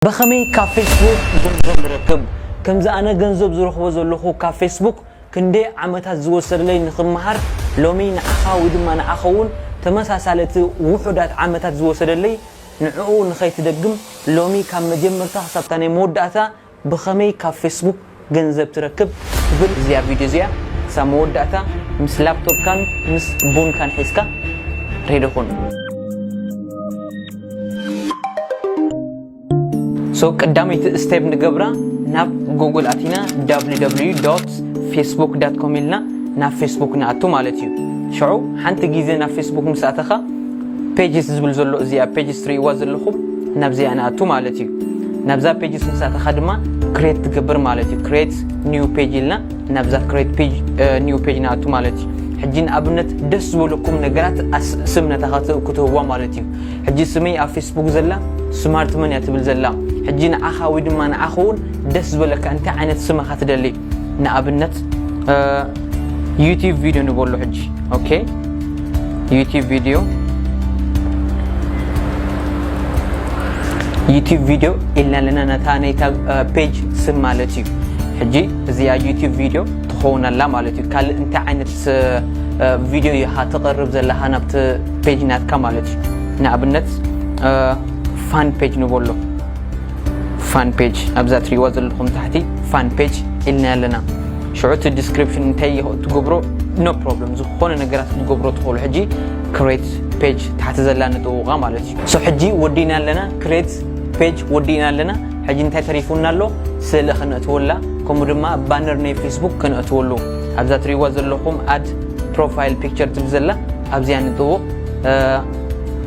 በከመይ ካብ ፌስቡክ ገንዘብ ንረክብ? ከምዚ ኣነ ገንዘብ ዝረኽቦ ዘለኹ ካብ ፌስቡክ ክንደይ ዓመታት ዝወሰደለይ ንኽመሃር ሎሚ ንዓኻ ወይ ድማ ንዓኸዉን ተመሳሳሊ እቲ ዉሑዳት ዓመታት ዝወሰደለይ ንዕኡ ንኸይትደግም ሎሚ ካብ መጀመርታ ክሳብታ ናይ መወዳእታ ብኸመይ ካብ ፌስቡክ ገንዘብ ትረክብ ትብል እዚኣ ቪድዮ እዚኣ ክሳብ መወዳእታ ምስ ላፕቶፕካን ምስ ቡንካን ሒዝካ ሬዲ ኩን። ሶ ቀዳመይቲ ስቴፕ ንገብራ ናብ ጎግል ኣቲና www facebook com ኢልና ናብ ፌስቡክ ንኣቱ ማለት እዩ ሽዑ ሓንቲ ግዜ ናብ ፌስቡክ ምስ ኣተኻ ፔጅስ ዝብል ዘሎ እዚኣ ፔጅስ ትርእይዋ ዘለኹም ናብዚኣ ንኣቱ ማለት እዩ ናብዛ ፔጅስ ምስ ኣተኻ ድማ ክሬት ትገብር ማለት እዩ ክሬት ኒው ፔጅ ኢልና ናብዛ ክሬት ፔጅ ኒው ፔጅ ንኣቱ ማለት እዩ ሕጂ ንኣብነት ደስ ዝበለኩም ነገራት ስም ነታ ክትህዋ ማለት እዩ ሕጂ ስመይ ኣብ ፌስቡክ ዘላ ስማርት መን እያ ትብል ዘላ ሕጂ ንዓኻ ወይ ድማ ንዓኸ እውን ደስ ዝበለካ እንታይ ዓይነት ስመኻ ትደሊ ንኣብነት ዩቲብ ቪድዮ ንበሎ ሕጂ ኦኬ ዩቲብ ቪድዮ ዩቲብ ቪድዮ ኢልና ኣለና ነታ ናይታ ፔጅ ስም ማለት እዩ ሕጂ እዚኣ ዩቲብ ቪድዮ ትኸውን ኣላ ማለት እዩ ካልእ እንታይ ዓይነት ቪድዮ ኢኻ ትቕርብ ዘለኻ ናብቲ ፔጅ ናትካ ማለት እዩ ንኣብነት ፋን ፔጅ ንበሎ ፋን ፔጅ ኣብዛ ትሪእዋ ዘለኹም ታሕቲ ፋን ፔጅ ኢልና ኣለና ሽዑ እቲ ዲስክሪፕሽን እንታይ ይኸ ትገብሮ ኖ ፕሮብለም ዝኾነ ነገራት ክትገብሮ ትኽእሉ ሕጂ ክሬት ፔጅ ታሕቲ ዘላ ንጥውቓ ማለት እዩ ሶ ሕጂ ወዲእና ኣለና ክሬት ፔጅ ወዲእና ኣለና ሕጂ እንታይ ተሪፉና ኣሎ ስእሊ ክንእትወላ ከምኡ ድማ ባነር ናይ ፌስቡክ ክንእትወሉ ኣብዛ ትሪእዋ ዘለኹም ኣድ ፕሮፋይል ፒክቸር ትብል ዘላ ኣብዚኣ ንጥውቕ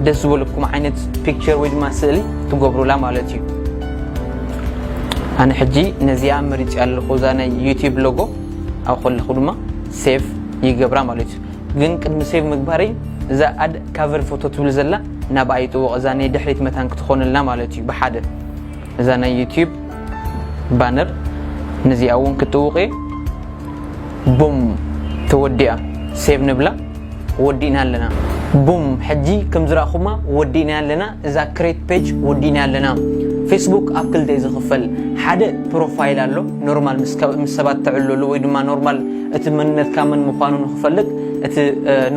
ደስ ዝበለኩም ዓይነት ፒክቸር ወይ ድማ ስእሊ ትገብሩላ ማለት እዩ ኣነ ሕጂ ነዚኣ መሪፅ ኣለኹ እዛ ናይ ዩቲብ ሎጎ ኣብ ከለኹ ድማ ሴቭ ይገብራ ማለት እዩ ግን ቅድሚ ሴቭ ምግባረይ እዛ ኣድ ካቨር ፎቶ ትብል ዘላ ናብ ኣይጥወቕ እዛ ናይ ድሕሪት መታን ክትኾነልና ማለት እዩ ብሓደ እዛ ናይ ዩቲብ ባነር ነዚኣ እውን ክትጥውቕ እየ ቡም ተወዲኣ ሴቭ ንብላ ወዲእና ኣለና ቡም ሕጂ ከም ዝራእኹማ ወዲእናያ ኣለና እዛ ክሬት ፔጅ ወዲእናያ ኣለና ፌስቡክ ኣብ ክልተ ዝኽፈል ሓደ ፕሮፋይል ኣሎ ኖርማል ምስ ሰባት ትዕለሉ ወይ ድማ ኖርማል እቲ መንነትካ መን ምዃኑ ንክፈልጥ እቲ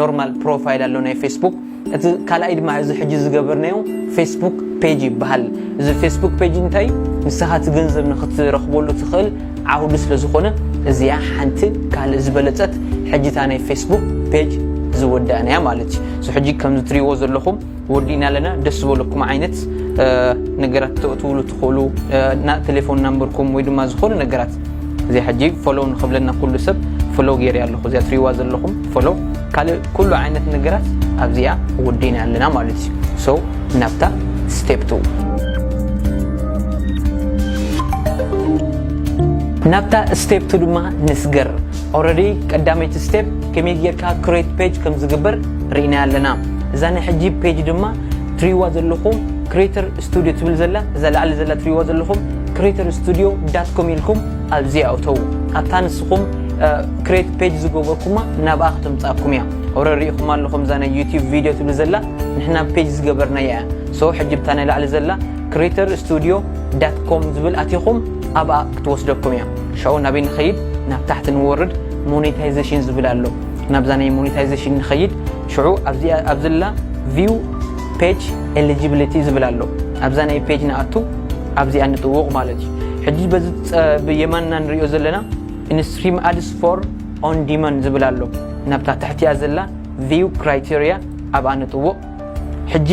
ኖርማል ፕሮፋይል ኣሎ ናይ ፌስቡክ እቲ ካልኣይ ድማ እዚ ሕጂ ዝገበርናዮ ፌስቡክ ፔጅ ይበሃል እዚ ፌስቡክ ፔጅ እንታይ ንስኻ እቲ ገንዘብ ንክትረኽበሉ ትኽእል ዓውዲ ስለ ዝኾነ እዚኣ ሓንቲ ካልእ ዝበለጸት ሕጂ እታ ናይ ፌስቡክ ፔጅ ዝወዳእናያ ማለት እዩ ሶ ሕጂ ከም ዝትሪእዎ ዘለኹም ወዲእና ኣለና ደስ ዝበለኩም ዓይነት ነገራት ተእትውሉ ትኽእሉ ቴሌፎን ናምበርኩም ወይ ድማ ዝኾነ ነገራት እዚኣ ሕጂ ፎሎው ንክብለና ኩሉ ሰብ ፎሎው ገይረ ኣለኹ እዚኣ ትሪእዋ ዘለኹም ፎሎው ካልእ ኩሉ ዓይነት ነገራት ኣብዚኣ ወዲእና ኣለና ማለት እዩ ናብታ ስቴፕ ቱ። ናብታ ስቴፕ ቱ ድማ ንስገር። ኦረዲ ቀዳመይቲ ስቴፕ ከመይ ጌርካ ክሬት ፔጅ ከም ዝግበር ርኢናያ ኣለና። እዛ ናይ ሕጂ ፔጅ ድማ ትሪእዋ ዘለኹም ክሬተር ስቱድዮ ትብል ዘላ እዛ ላዕሊ ዘላ ትሪእዋ ዘለኹም ክሬተር ስቱድዮ ዳት ኮም ኢልኩም ኣብዚኣ እተዉ። ኣብታ ንስኹም ክሬት ፔጅ ዝገበርኩማ ናብኣ ክተምጽኣኩም እያ። ኦረዲ ርኢኹማ ኣለኹም እዛ ናይ ዩትዩብ ቪድዮ ትብል ዘላ ንሕና ብ ፔጅ ዝገበርናያ እያ ሶ ሕጂ ብታ ናይ ላዕሊ ዘላ Creator Studio dot com ዝብል ኣቲኹም ኣብኣ ክትወስደኩም እያ ሻኡ ናበይ ንኸይድ ናብ ታሕቲ ንወርድ ሞኔታይዜሽን ዝብል ኣሎ ናብዛ ናይ ሞኔታይዜሽን ንኸይድ ሽዑ ኣብዚኣ ኣብ ዘላ View Page Eligibility ዝብል ኣሎ ኣብዛ ናይ ፔጅ ንኣቱ ኣብዚኣ ንጥውቕ ማለት እዩ ሕጂ በዚ ብየማንና ንሪኦ ዘለና ኢንስትሪም ኣድስ ፎር ኦን ዲማንድ ዝብል ኣሎ ናብታ ትሕቲኣ ዘላ ቪው ክራይቴሪያ ኣብኣ ንጥውቕ ሕጂ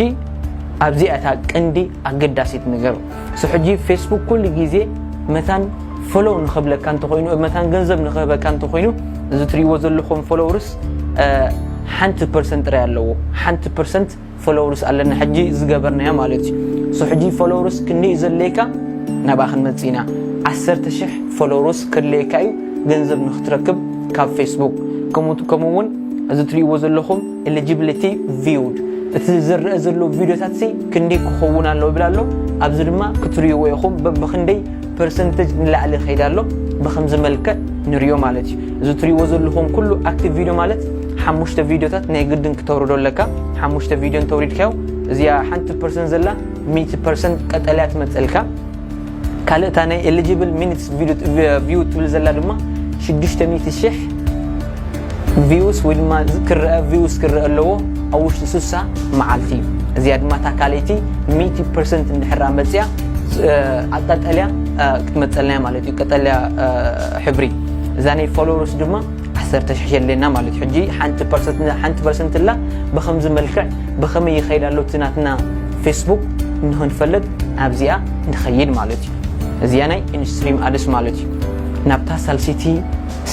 ኣብዚኣ እታ ቅንዲ ኣገዳሲት ነገር ሶ ሕጂ ፌስቡክ ኩሉ ግዜ መታን ፎሎው ንኽብለካ እንተኾይኑ መታን ገንዘብ ንኽህበካ እንተኾይኑ እዚ ትሪእዎ ዘለኹም ፎሎውርስ ሓንቲ ፐርሰንት ጥራይ ኣለዎ ሓንቲ ፐርሰንት ፎሎውርስ ኣለና ሕጂ ዝገበርናዮ ማለት እዩ ሶ ሕጂ ፎሎውርስ ክንደይ እዩ ዘድለየካ ናብኣ ክንመፅእ ኢና ዓሰርተ ሽሕ ፎሎውርስ ከድለየካ እዩ ገንዘብ ንክትረክብ ካብ ፌስቡክ ከምኡ እውን እዚ ትሪእዎ ዘለኹም Eligibility viewed እቲ ዝረኣ ዘሎ ቪድዮታት ሲ ክንደይ ክኸውን ኣለዎ ይብል ኣሎ ኣብዚ ድማ ክትርእይዎ ኢኹም በብክንደይ ፐርሰንተጅ ንላዕሊ ይኸይድ ኣሎ ብከምዚ መልክዕ ንሪኦ ማለት እዩ እዚ እትሪእዎ ዘለኹም ኩሉ ኣክቲቭ ቪድዮ ማለት ሓሙሽተ ቪድዮታት ናይ ግድን ክተውርዶ ኣለካ ሓሙሽተ ቪድዮ እንተውሪድካዮ እዚኣ ሓንቲ ፐርሰንት ዘላ ሚእቲ ፐርሰንት ቀጠልያ ትመፀልካ ካልእ እታ ናይ ኤሊጂብል ሚኒትስ ቪው ትብል ዘላ ድማ ሽዱሽተ ሚእቲ ሽሕ ቪውስ ወይ ድማ ክረአ ቪውስ ክረአ ኣለዎ ኣብ ውሽጢ ስሳ መዓልቲ እዩ እዚኣ ድማ እታ ካልይቲ ሚእቲ ፐርሰንት እንድሕራ መፅያ ኣብ ቀጠልያ ክትመፀልና ማለት እዩ ቀጠልያ ሕብሪ እዛ ናይ ፎሎወርስ ድማ ዓሰርተ ሽሕ የድልየና ማለት እዩ ሕጂ ሓንቲ ፐርሰንት ሓንቲ ፐርሰንት እላ ብከምዚ መልክዕ ብከመይ ይኸይድ ኣሎ እቲ ናትና ፌስቡክ ንክንፈልጥ ኣብዚኣ ንኸይድ ማለት እዩ እዚኣ ናይ ኢንስትሪም ኣድስ ማለት እዩ ናብታ ሳልሲቲ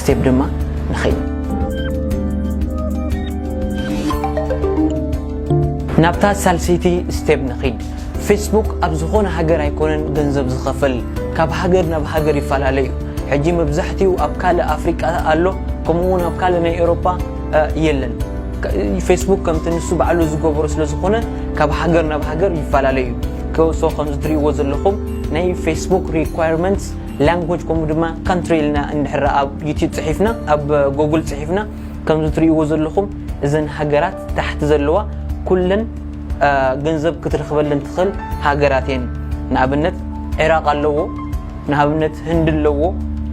ስቴፕ ድማ ንኸይድ ናብታ ሳልሲቲ ስቴፕ ንኸይድ ፌስቡክ ኣብ ዝኾነ ሃገር ኣይኮነን ገንዘብ ዝኸፍል ካብ ሃገር ናብ ሃገር ይፈላለ እዩ ሕጂ መብዛሕትኡ ኣብ ካልእ ኣፍሪቃ ኣሎ ከምኡ እውን ኣብ ካልእ ናይ ኤሮፓ የለን ፌስቡክ ከምቲ ንሱ ባዕሉ ዝገበሮ ስለ ዝኾነ ካብ ሃገር ናብ ሃገር ይፈላለ እዩ ከውሶ ከም ዝትርእይዎ ዘለኹም ናይ ፌስቡክ ሪኳርመንትስ ላንጎጅ ከምኡ ድማ ካንትሪ ኢልና እንድሕር ኣብ ዩትብ ፅሒፍና ኣብ ጎግል ፅሒፍና ከምዚ ትርእይዎ ዘለኹም እዘን ሃገራት ታሕቲ ዘለዋ ኩለን ገንዘብ ክትረኽበለን ትኽእል ሃገራት እየን ንኣብነት ዒራቅ ኣለዎ ንኣብነት ህንዲ ኣለዎ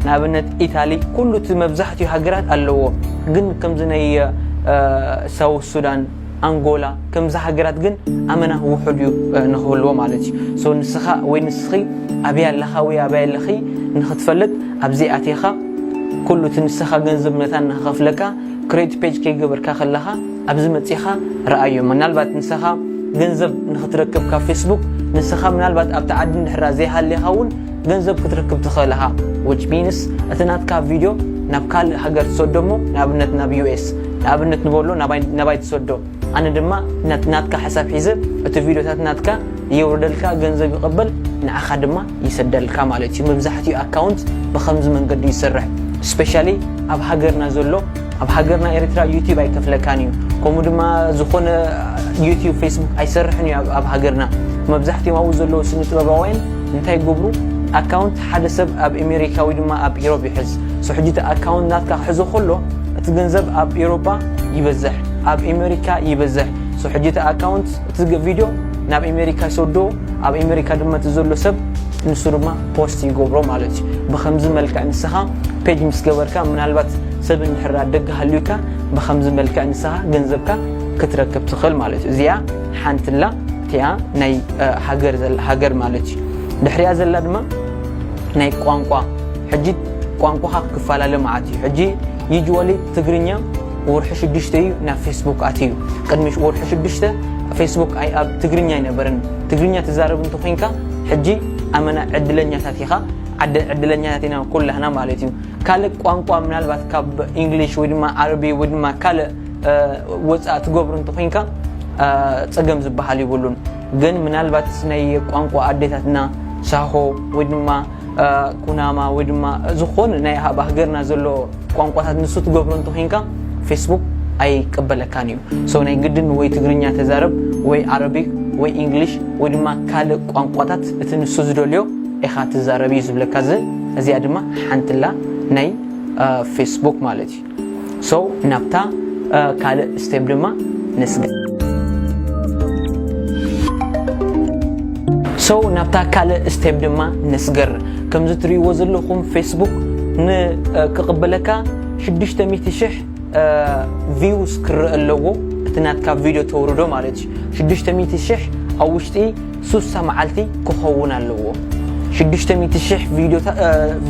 ንኣብነት ኢታሊ ኩሉ እቲ መብዛሕትኡ ሃገራት ኣለዎ ግን ከምዚ ናይ ሳውት ሱዳን ኣንጎላ ከምዚ ሃገራት ግን ኣመና ውሑድ እዩ ንክህልዎ ማለት እዩ ሶ ንስኻ ወይ ንስኺ ኣብያ ኣለኻ ወይ ኣብያ ኣለኺ ንክትፈልጥ ኣብዚ ኣትኻ ኩሉ እቲ ንስኻ ገንዘብ ነታ ንክኸፍለካ ክሬት ፔጅ ከይገበርካ ከለኻ ኣብዚ መጺኻ ረኣዮ ምናልባት ንሰኻ ገንዘብ ንክትረክብ ካብ ፌስቡክ ንሰኻ ምናልባት ኣብቲ ዓዲ እንድሕራ ዘይሃሌኻ እውን ገንዘብ ክትረክብ ትኽእል ኢኻ which means እቲ ናትካ ቪድዮ ናብ ካልእ ሃገር ትሰዶ እሞ ንኣብነት ናብ US ንኣብነት ንበሎ ናባይ ትሰዶ ኣነ ድማ ነቲ ናትካ ሕሳብ ሒዘ እቲ ቪድዮታት ናትካ የውርደልካ ገንዘብ ይቕበል ንዓኻ ድማ ይሰደልካ ማለት እዩ መብዛሕትኡ ኣካውንት ብከምዚ መንገዲ ይስርሕ ስፔሻሊ ኣብ ሃገርና ዘሎ ኣብ ሃገርና ኤሪትራ ዩቲብ ኣይከፍለካን እዩ ከምኡ ድማ ዝኾነ ዩቲብ ፌስቡክ ኣይሰርሕን እዩ ኣብ ሃገርና መብዛሕትኦም ኣብኡ ዘለዉ ስነ ጥበባውያን እንታይ ይገብሩ ኣካውንት ሓደ ሰብ ኣብ ኤሜሪካ ወይ ድማ ኣብ ኢሮብ ይሕዝ ሶ ሕጂ እቲ ኣካውንት ናትካ ክሕዞ ከሎ እቲ ገንዘብ ኣብ ኤሮጳ ይበዝሕ ኣብ ኤሜሪካ ይበዝሕ ሶ ሕጂ እቲ ኣካውንት እቲ ቪድዮ ናብ ኤሜሪካ ይሰዶ ኣብ ኤሜሪካ ድማ እቲ ዘሎ ሰብ ንሱ ድማ ፖስት ይገብሮ ማለት እዩ ብከምዚ መልክዕ ንስኻ ፔጅ ምስ ገበርካ ምናልባት ሰብ እንድሕር ኣብ ደገ ሃልዩካ ብኸምዚ መልክዕ ንስኻ ገንዘብካ ክትረክብ ትኽእል ማለት እዩ እዚኣ ሓንትላ እቲኣ ናይ ሃገር ዘላ ሃገር ማለት እዩ ድሕሪያ ዘላ ድማ ናይ ቋንቋ ሕጂ ቋንቋኻ ክፈላለ መዓት እዩ ሕጂ ዩጅዋሊ ትግርኛ ወርሒ ሽዱሽተ እዩ ናብ ፌስቡክ ኣትዩ ቅድሚ ወርሒ ሽዱሽተ ፌስቡክ ኣይ ኣብ ትግርኛ ኣይነበረን ትግርኛ ትዛረብ እንተኮይንካ ሕጂ ኣመና ዕድለኛታት ኢኻ ዓደ ዕድለኛታት ኢና ኩላህና ማለት እዩ ካልእ ቋንቋ ምናልባት ካብ ኢንግሊሽ ወይ ድማ ዓረቢ ወይ ድማ ካልእ ወፃእ ትገብሩ እንተኮንካ ፀገም ዝበሃል ይብሉን ግን ምናልባት ናይ ቋንቋ ኣዴታትና ሳሆ ወይ ድማ ኩናማ ወይ ድማ ዝኾነ ናይ ኣብ ሃገርና ዘሎ ቋንቋታት ንሱ ትገብሮ እንተኮንካ ፌስቡክ ኣይቀበለካን እዩ ሰው ናይ ግድን ወይ ትግርኛ ተዛረብ ወይ ዓረቢክ ወይ ኢንግሊሽ ወይ ድማ ካልእ ቋንቋታት እቲ ንሱ ዝደልዮ ኢኻ ትዛረብ እዩ ዝብለካ እዚ እዚኣ ድማ ሓንትላ ናይ ፌስቡክ ማለት እዩ ሶ ናብታ ካልእ ስቴፕ ድማ ንስገር ሶ ናብታ ካልእ ስቴፕ ድማ ንስገር ከምዚ ትርእይዎ ዘለኹም ፌስቡክ ንክቕበለካ 600 ሽሕ ቪውስ ክረአ ኣለዎ እቲ ናትካ ቪድዮ ተውርዶ ማለት እዩ 600 ሽሕ ኣብ ውሽጢ ሱሳ መዓልቲ ክኸውን ኣለዎ ሽዱሽተ ሚእቲ ሽሕ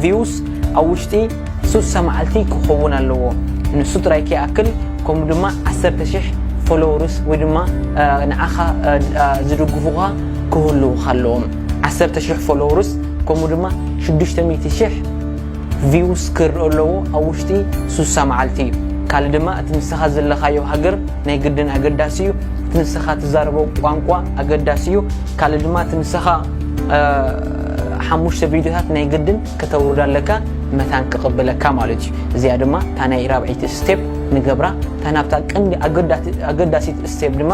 ቪውስ ኣብ ውሽጢ ሱሳ መዓልቲ ክኸውን ኣለዎ ንሱ ጥራይ ከይኣክል ከምኡ ድማ ዓሰርተ ሽሕ ፎሎወርስ ወይ ድማ ንዓኻ ዝድግፉኻ ክህልውኻ ኣለዎም ዓሰርተ ሽሕ ፎሎወርስ ከምኡ ድማ ሽዱሽተ ሚእቲ ሽሕ ቪውስ ክርእ ኣለዎ ኣብ ውሽጢ ሱሳ መዓልቲ እዩ ካልእ ድማ እቲ ንስኻ ዘለኻዮ ሃገር ናይ ግድን ኣገዳሲ እዩ እቲ ንስኻ ትዛረቦ ቋንቋ ኣገዳሲ እዩ ካልእ ድማ እቲ ንስኻ ሓሙሽተ ቪድዮታት ናይ ግድን ከተውርድ ኣለካ መታን ክቕብለካ ማለት እዩ እዚኣ ድማ እታ ናይ ራብዒይቲ ስቴፕ ንገብራ እታ ናብታ ቀንዲ ኣገዳሲት ስቴፕ ድማ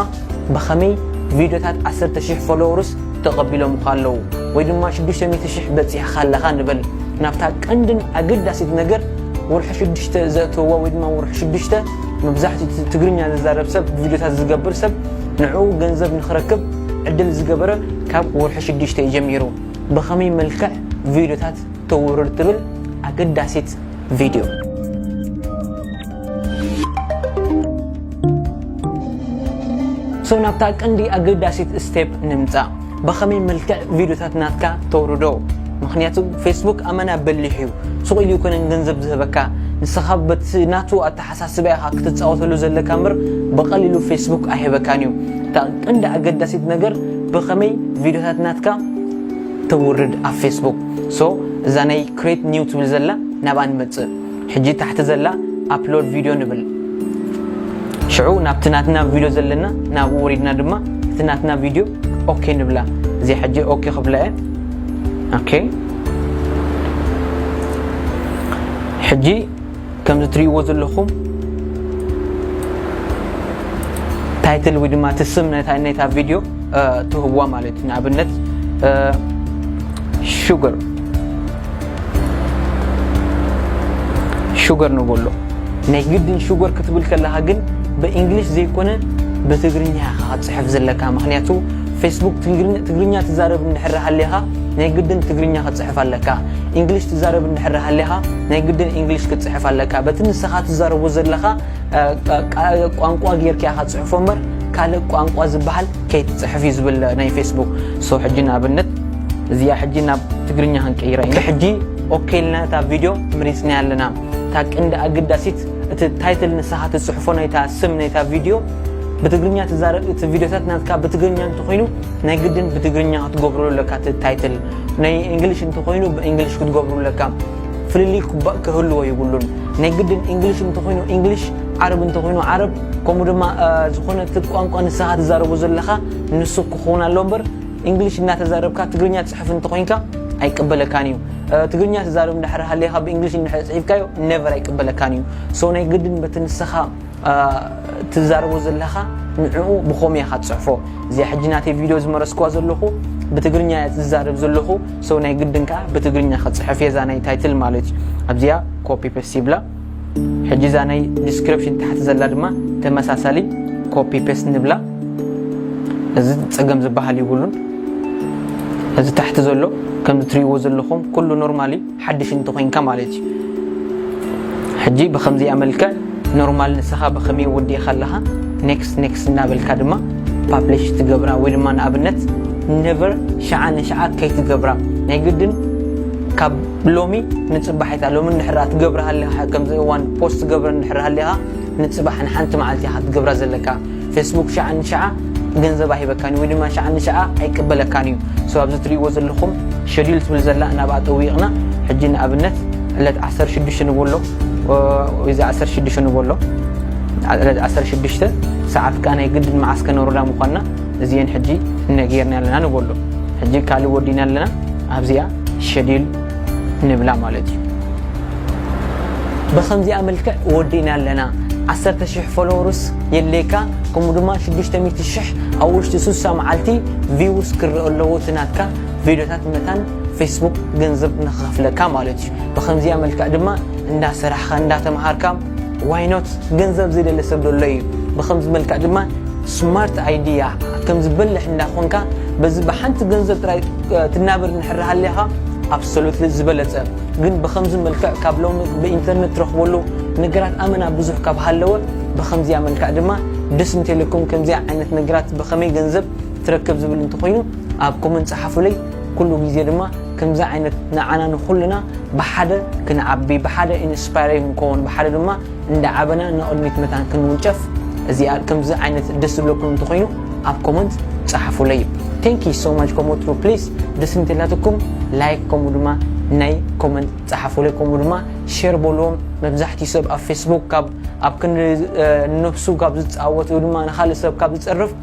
ብኸመይ ቪድዮታት ዓሰርተ ሽሕ ፎሎወርስ ተቐቢሎምኻ ኣለዉ ወይ ድማ ሽዱሽተ ሚእቲ ሽሕ በጺሕኻ ኣለኻ ንበል። ናብታ ቀንድን ኣገዳሲት ነገር ወርሒ ሽዱሽተ ዘእትወዋ ወይ ድማ ወርሒ ሽዱሽተ መብዛሕትኡ እቲ ትግርኛ ዝዛረብ ሰብ ቪድዮታት ዝገብር ሰብ ንዕኡ ገንዘብ ንኽረክብ ዕድል ዝገበረ ካብ ወርሒ ሽዱሽተ እዩ ጀሚሩ። ብኸመይ መልክዕ ቪድዮታት ተውርድ ትብል ኣገዳሲት ቪድዮ። ሰው ናብታ ቀንዲ ኣገዳሲት ስቴፕ ንምፃእ ብኸመይ መልክዕ ቪድዮታት ናትካ ተውርዶ ምክንያቱ ፌስቡክ ኣመና በሊሕ እዩ ሱቕ ኢሉ ይኮነን ገንዘብ ዝህበካ ንስኻ በቲ ናቱ ኣተሓሳስባ ኢኻ ክትፃወተሉ ዘለካ ምር ብቐሊሉ ፌስቡክ ኣይህበካን እዩ እታ ቀንዲ ኣገዳሲት ነገር ብኸመይ ቪድዮታት ናትካ ተውርድ ኣብ ፌስቡክ ሶ እዛ ናይ ክሬት ኒው ትብል ዘላ ናብኣ ንመፅእ ሕጂ ታሕቲ ዘላ ኣፕሎድ ቪድዮ ንብል ሽዑ ናብቲ ናትና ቪድዮ ዘለና ናብኡ ወሪድና ድማ እቲ ናትና ቪድዮ ኦኬ ንብላ እዚ ሕጂ ኦኬ ክብላ እየ ኦኬ ሕጂ ከምዚ ትርእይዎ ዘለኹም ታይትል ወይ ድማ እቲ ስም ናይታ ቪድዮ ትህዋ ማለት እዩ ንኣብነት ሹገር ሹገር ንበሎ ናይ ግድን ሹገር ክትብል ከለኻ ግን ብእንግሊሽ ዘይኮነ ብትግርኛ ኢኻ ክትፅሕፍ ዘለካ ምክንያቱ ፌስቡክ ትግርኛ ትዛረብ እንድሕር ሃሊኻ ናይ ግድን ትግርኛ ክትፅሕፍ ኣለካ እንግሊሽ ትዛረብ እንድሕር ሃሊኻ ናይ ግድን እንግሊሽ ክትፅሕፍ ኣለካ በቲ ንስኻ ትዛረቦ ዘለኻ ቋንቋ ጌርካ ኢኻ ትፅሕፎ እምበር ካልእ ቋንቋ ዝበሃል ከይትፅሕፍ እዩ ዝብል ናይ ፌስቡክ ሶ ሕጂ ንኣብነት እዚኣ ሕጂ ናብ ትግርኛ ክንቀይራ ኢና ሕጂ ኦኬ ኢልና እታ ቪድዮ መሪፅናያ ኣለና እታ ቅንዲ ኣገዳሲት እቲ ታይትል ንስኻ ትፅሕፎ ናይታ ስም ናይታ ቪድዮ ብትግርኛ ትዛረብ እቲ ቪድዮታት ናትካ ብትግርኛ እንተኮይኑ ናይ ግድን ብትግርኛ ክትገብሩ ኣለካ እቲ ታይትል ናይ እንግሊሽ እንተኮይኑ ብእንግሊሽ ክትገብሩ ኣለካ ፍልልይ ኩባእ ክህልዎ ይብሉን ናይ ግድን እንግሊሽ እንተኮይኑ እንግሊሽ ዓረብ እንተኮይኑ ዓረብ ከምኡ ድማ ዝኾነ እቲ ቋንቋ ንስኻ ትዛረቡ ዘለካ ንሱ ክኸውን ኣሎ እምበር ኢንግሊሽ እናተዛረብካ ትግርኛ ትጽሕፍ እንተኾይንካ ኣይቅበለካን እዩ ትግርኛ ትዛረብ እንድሕር ሃልየኻ ብእንግሊሽ እንድሕር ጽሒፍካዮ ነቨር ኣይቅበለካን እዩ ሶ ናይ ግድን በቲ ንስኻ ትዛረቦ ዘለኻ ንዕኡ ብኸመይ ኢኻ ትጽሕፎ እዚኣ ሕጂ ናተይ ቪድዮ ዝመረስክዋ ዘለኹ ብትግርኛ እያ ዝዛረብ ዘለኹ ሰው ናይ ግድን ከዓ ብትግርኛ ክፅሕፍ የዛ ናይ ታይትል ማለት እዩ ኣብዚኣ ኮፒ ፔስት ይብላ ሕጂ እዛ ናይ ዲስክሪፕሽን ታሕቲ ዘላ ድማ ተመሳሳሊ ኮፒ ፔስት ንብላ እዚ ፀገም ዝበሃል ይብሉን እዚ ታሕቲ ዘሎ ከም ትሪእዎ ዘለኹም ኩሉ ኖርማሊ ሓድሽ እንተኮይንካ ማለት እዩ ሕጂ ብከምዚ ኣመልክዕ ኖርማል ንስኻ ብከመይ ወዲእካ ኣለኻ ኔክስት ኔክስት እናበልካ ድማ ፓብሊሽ ትገብራ ወይ ድማ ንኣብነት ነቨር ሸዓ ንሸዓ ከይትገብራ ናይ ግድን ካብ ሎሚ ንጽባሕ ኢካ ሎሚ እንድሕር ደኣ ትገብር ሃሊካ ከምዚ እዋን ፖስት ትገብር እንድሕር ሃሊካ ንጽባሕ ንሓንቲ መዓልቲ ኢካ ክትገብራ ዘለካ ፌስቡክ ሸዓ ንሸዓ ገንዘባ ሂበካን እዩ ወይ ድማ ሸዓ ንሸዓ ኣይቅበለካን እዩ ሶ ኣብዚ ትርእይዎ ዘለኩም ሸዲል ትብል ዘላ ናብኣ ጠዊቕና ሕጂ ንኣብነት ዕለት ዓሰርተ ሽዱሽተ ንበሎ እዚ ዓሰርተ ሽዱሽተ ንበሎ ዕለት ዓሰርተ ሽዱሽተ ሰዓት ከኣ ናይ ግድን መዓስ ከነውርዳ ምኳንና እዚኤን ሕጂ እነ ጌርና ኣለና ንበሎ ሕጂ ካልእ ወዲና ኣለና ኣብዚኣ ሸዲል ንብላ ማለት እዩ ብከምዚኣ መልክዕ ወዲእና ኣለና ዓሰርተ ሽሕ ፎሎወርስ የድልየካ ከምኡ ድማ ሽዱሽተ ሚእቲ ሽሕ ኣብ ውሽጢ ሱሳ መዓልቲ ቪውስ ክረኦ ኣለዎ እቲ ናትካ ቪድዮታት መታን ፌስቡክ ገንዘብ ንክኸፍለካ ማለት እዩ ብከምዚኣ መልክዕ ድማ እንዳሰራሕካ እንዳተምሃርካ ዋይ ኖት ገንዘብ ዘይደሊ ሰብ ዶ ኣሎ እዩ ብከምዚ መልክዕ ድማ ስማርት ኣይድያ ከምዚ በልሕ እንዳ ኮንካ በዚ ብሓንቲ ገንዘብ ጥራይ ትናበር እንድሕር ሃሊኻ ኣብሶሉትሊ ዝበለጸ ግን ብከምዚ መልክዕ ካብ ሎሚ ብኢንተርነት ትረኽበሉ ነገራት ኣመና ብዙሕ ካብ ሃለወ ብከምዚያ መልክዕ ድማ ደስ እንተኢለኩም ከምዚኣ ዓይነት ነገራት ብከመይ ገንዘብ ትረክብ ዝብል እንተኾይኑ ኣብ ኮመንት ጸሓፉለይ ኩሉ ግዜ ድማ ከምዚ ዓይነት ንዓና ንኹልና ብሓደ ክንዓቢ ብሓደ ኢንስፓይሬ ክንከውን ብሓደ ድማ እንዳዓበና ንቕድሚት መታን ክንውንጨፍ እዚኣ ከምዚ ዓይነት ደስ ዝብለኩም እንተኾይኑ ኣብ ኮመንት ጸሓፉለይ ቴንኪ ሶ ማች ከምኡ ትሩ ፕሊስ ደስ እንተላትኩም ላይክ ከምኡ ድማ ናይ ኮመንት ጸሓፉለይ ከምኡ ድማ ሼር በልዎም መብዛሕትኡ ሰብ ኣብ ፌስቡክ ካብ ኣብ ክንዲ ነብሱ ካብ ዝጻወት ወይ ድማ ንኻልእ ሰብ ካብ ዝጸርፍ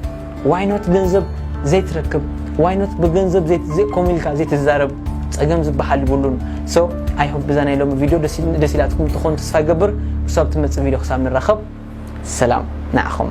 ዋይ ኖት ገንዘብ ዘይትረክብ ዋይ ኖት ብገንዘብ ዘይት ዘይ ከምኡ ኢልካ ዘይትዛረብ ጸገም ዝበሃል ይብሉን ሶ ኣይ ሆፕ ብዛ ናይ ሎሚ ቪድዮ ደስ ኢላትኩም ትኾን ተስፋ ይገብር ክሳብ ትመጽእ ቪድዮ ክሳብ ንራኸብ ሰላም ንዓኹም